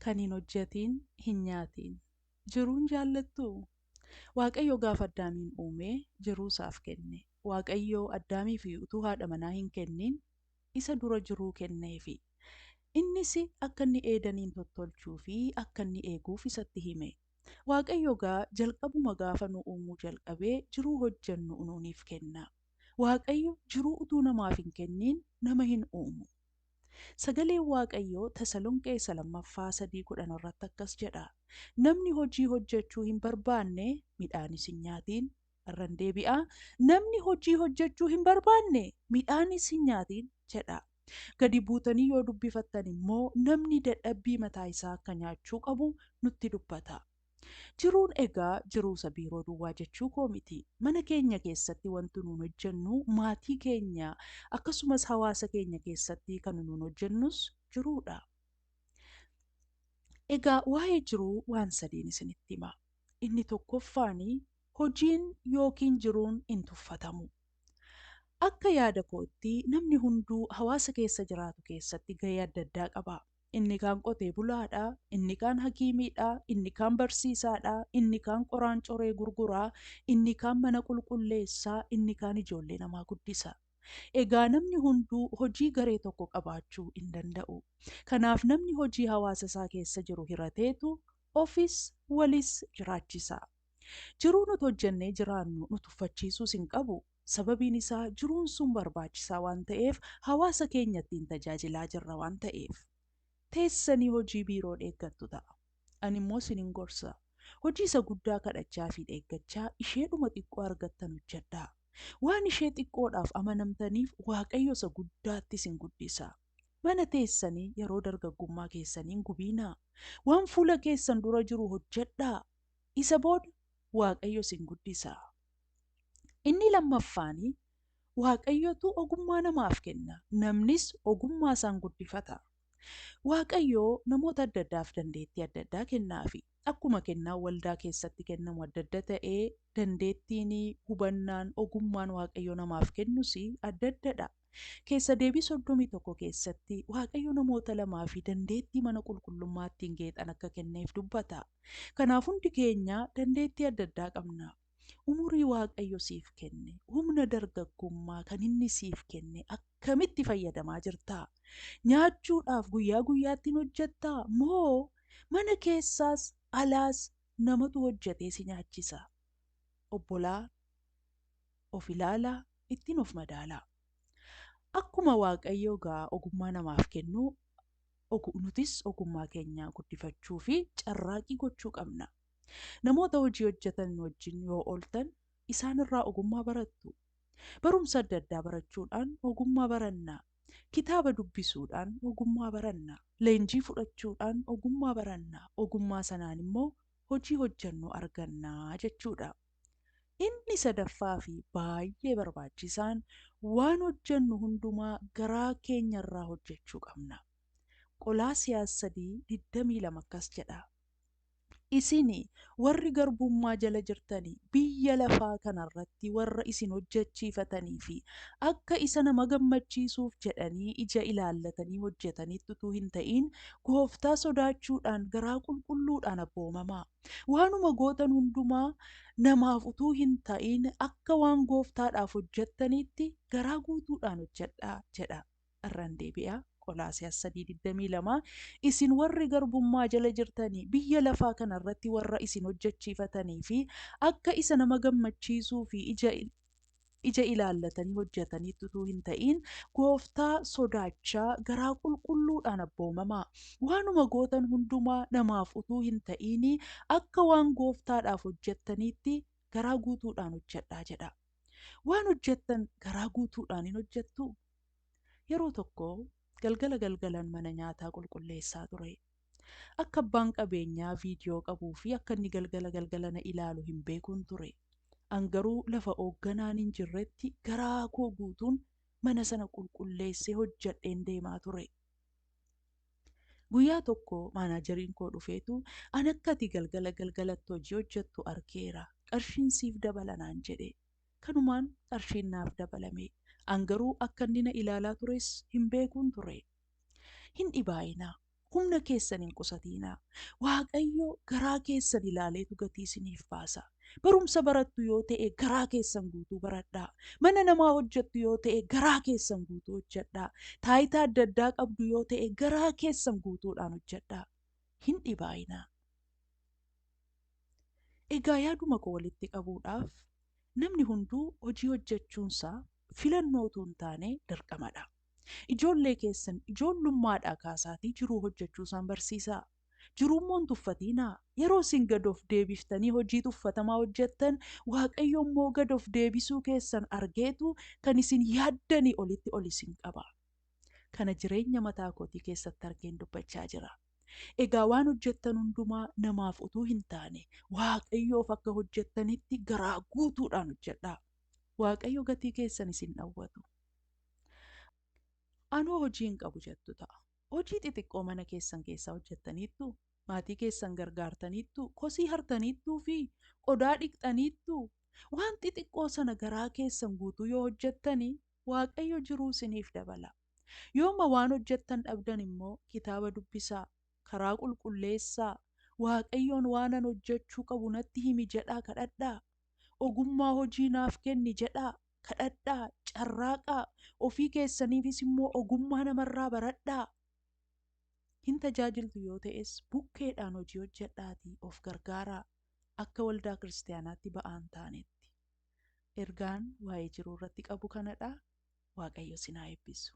Kan hin hojjatiin hin nyaatiin. Jiruun jaallattuu? Waaqayyo gaafa Addaamiin uume jiruu isaaf kenne. Waaqayyo Addaamiif utuu haadha manaa hin kennin isa dura jiruu kenneefi. Innis akka inni Eedaniin tottolchuu fi akka inni eeguuf isatti hime. Waaqayyo egaa jalqabuma gaafa nu uumuu jalqabee jiruu hojjannu nuuniif kenna. Waaqayyo jiruu utuu namaaf hin kennin nama hin uumu. Sagaleen Waaqayyoo Tasalonqee Isa Lammaffaa 3 10 irratti akkas jedha, Namni hojii hojjechuu hin barbaanne midhaanis hin nyaatiin. Irran deebi'a, Namni hojii hojjechuu hin barbaanne midhaanis hin nyaatiin jedha. Gadi buutanii yoo dubbifattan immoo namni dadhabbii mataa isaa akka nyaachuu qabu nutti dubbata. Jiruun egaa jiruusa biiroo duwwaa jechuu koo miti. Mana keenya keessatti wanti nuun hojjennu maatii keenya akkasumas hawaasa keenya keessatti kan nuun hojjennus jiruudha. Egaa waa'ee jiruu waan sadiin isinitti hima. Inni tokkoffaan hojiin yookiin jiruun hin tuffatamu. Akka yaada kootti namni hunduu hawaasa keessa jiraatu keessatti gahee adda addaa qaba. inni kaan qotee bulaadha, inni kaan hakiimiidha, inni kaan barsiisaadha, inni kaan qoraan coree gurgura, inni kaan mana qulqulleessa, inni kaan ijoollee namaa guddisa. Egaa namni hunduu hojii garee tokko qabaachuu hin danda'u. Kanaaf namni hojii hawaasa isaa keessa jiru hirateetu ofis walis jiraachisa. Jiruu nuti hojjennee jiraannu nu tuffachiisuus hin qabu. Sababiin isaa jiruun sun barbaachisaa waan ta'eef hawaasa keenya ittiin tajaajilaa jirra waan ta'eef. Teessanii hojii biiroo dheeggattu ta'a. Ani immoo isinin gorsa. Hojii isa guddaa kadhachaa fi dheeggachaa isheedhuma xiqqoo argattan hojjedhaa. Waan ishee xiqqoodhaaf amanamtaniif Waaqayyo isa guddaatti isin guddisa. Mana teessanii yeroo dargaggummaa keessanii hin gubiinaa. Waan fuula keessan dura jiru hojjedhaa. Isa booda Waaqayyo isin guddisa. Inni lammaffaani, Waaqayyotu ogummaa namaaf kenna, namnis ogummaa isaan guddifata. Waaqayyo namoota adda addaaf dandeettii adda addaa kennaafi. Akkuma kennaan waldaa keessatti kennamu adda adda ta'e, dandeettiin, hubannaan, ogummaan Waaqayyo namaaf kennus adda addadha. Keessa Deebii 31 keessatti, Waaqayyo namoota lamaa fi dandeettii mana qulqullummaa ittiin geexan akka kenneef dubbata. Kanaaf hundi keenya dandeettii adda addaa qabna. Umurii Waaqayyo siif kenne, humna dargaggummaa kan inni siif kenne akkamitti fayyadamaa jirta? Nyaachuudhaaf guyyaa guyyaatti hin hojjettaa? Moo mana keessaas alaas namatu hojjetee si nyaachisa? Obbolaa. of ilaalaa, ittin of madaalaa. Akkuma Waaqayyo egaa ogummaa namaaf kennu, nutis ogummaa keenya guddifachuu fi carraaqii gochuu qabna. Namoota hojii hojjetan wajjin yoo ooltan isaan irraa ogummaa barattu. Barumsa adda addaa barachuudhaan ogummaa baranna. Kitaaba dubbisuudhaan ogummaa baranna. Leenjii fudhachuudhaan ogummaa baranna. Ogummaa sanaan immoo hojii hojjennu arganna jechuudha. Inni sadaffaa fi baay'ee barbaachisaan, waan hojjennu hundumaa garaa keenya irraa hojjechuu qabna. Qolaasiyaas 3, 22 akkas jedha, Isin warri garbummaa jala jirtan biyya lafaa kana irratti warra isin hojjechiifatanii fi akka isa nama gammachiisuuf jedhanii ija ilaallatanii hojjetanitti utuu hin ta'in, Gooftaa sodaachuudhaan garaa qulqulluudhaan abboomamaa. Waanuma gootan hundumaa namaaf utuu hin ta'in akka waan gooftaadhaaf hojjettaniitti garaa guutuudhaan hojjedhaa jedha. Irran deebi'a, Qolaasiyaas 3:22 Isin warri garbummaa jala jirtanii biyya lafaa kana irratti warra isin hojjechiifatanii fi akka isa nama gammachiisuu fi ija ija ilaallatanii hojjataniitti utuu hin ta'iin gooftaa sodaachaa garaa qulqulluudhaan abboomamaa. Waanuma gootan hundumaa namaaf utuu hin ta'iin akka waan gooftaadhaaf hojjattaniitti garaa guutuudhaan hojjadhaa jedhaa. Waan hojjattan garaa guutuudhaan in hojjattuu? Yeroo tokko galgala galgalan mana nyaataa qulqulleessaa ture. Akka abbaan qabeenyaa viidiyoo qabuu fi akka inni galgala galgala na ilaalu hin beekun ture. An garuu lafa oogganaan hin jirretti garaa koo guutuun mana sana qulqulleessee hojjedheen deemaa ture. Guyyaa tokko maanaajeriin koo dhufeetu an akka ati galgala galgalatti hojii hojjettu arkeera. Qarshiin siif dabala naan jedhe. Kanumaan qarshiin naaf dabalame. An garuu akka inni na ilaalaa tures hin beekun ture. Hin dhibaa'inaa. Humna keessan hin qusatiinaa. Waaqayyo garaa keessan ilaaleetu gatii isiniif baasa. Barumsa barattu yoo ta'e garaa keessan guutuu baradhaa. Mana namaa hojjettu yoo ta'e garaa keessan guutuu hojjedhaa. Taayitaa adda addaa qabdu yoo ta'e garaa keessan guutuudhaan hojjedhaa. Hin dhibaayinaa. Egaa yaaduma koo walitti qabuudhaaf namni hunduu hojii hojjechuunsaa filannoo utuu hin taane dirqamadha. Ijoollee keessan ijoollummaadhaa kaasaatii jiruu hojjechuu isaan barsiisaa. Jiruu immoo hin tuffatiinaa. Yeroo isin gad of deebiftanii hojii tuffatamaa hojjettan, Waaqayyo immoo gad of deebisuu keessan argeetu kan isin yaaddanii olitti ol isin qaba. Kana jireenya mataa kootii keessatti argeen dubbachaa jira. Egaa waan hojjettan hundumaa namaaf utuu hin taane, Waaqayyoof akka hojjettanitti garaa guutuudhaan hojjedhaa. Waaqayyo gatii keessan isin dhawwatu. Anoo hojii hin qabu jettu ta'a. Hojii xixiqqoo mana keessan keessaa hojjettaniittu, maatii keessan gargaartaniittu, kosii hartaniittuu fi qodaa dhiqxaniittu. Waan xixiqqoo sana garaa keessan guutuu yoo hojjettani, Waaqayyo jiruu isiniif dabala. Yooma waan hojjettan dhabdan immoo kitaaba dubbisaa, karaa qulqulleessaa, Waaqayyoon waanan hojjechuu qabu natti himi jedhaa kadhadhaa, ogummaa hojii naaf kenni jedhaa, kadhadhaa, carraaqaa, ofii keessaniifis immoo ogummaa namarraa baradhaa. Hin tajaajiltu yoo ta'es bukkeedhaan hojii hojjedhaatii of gargaaraa akka waldaa kiristaanaatti ba'aan taanetti. Ergaan waa'ee jiruu irratti qabu kanadha. Waaqayyo isin haa eebbisu.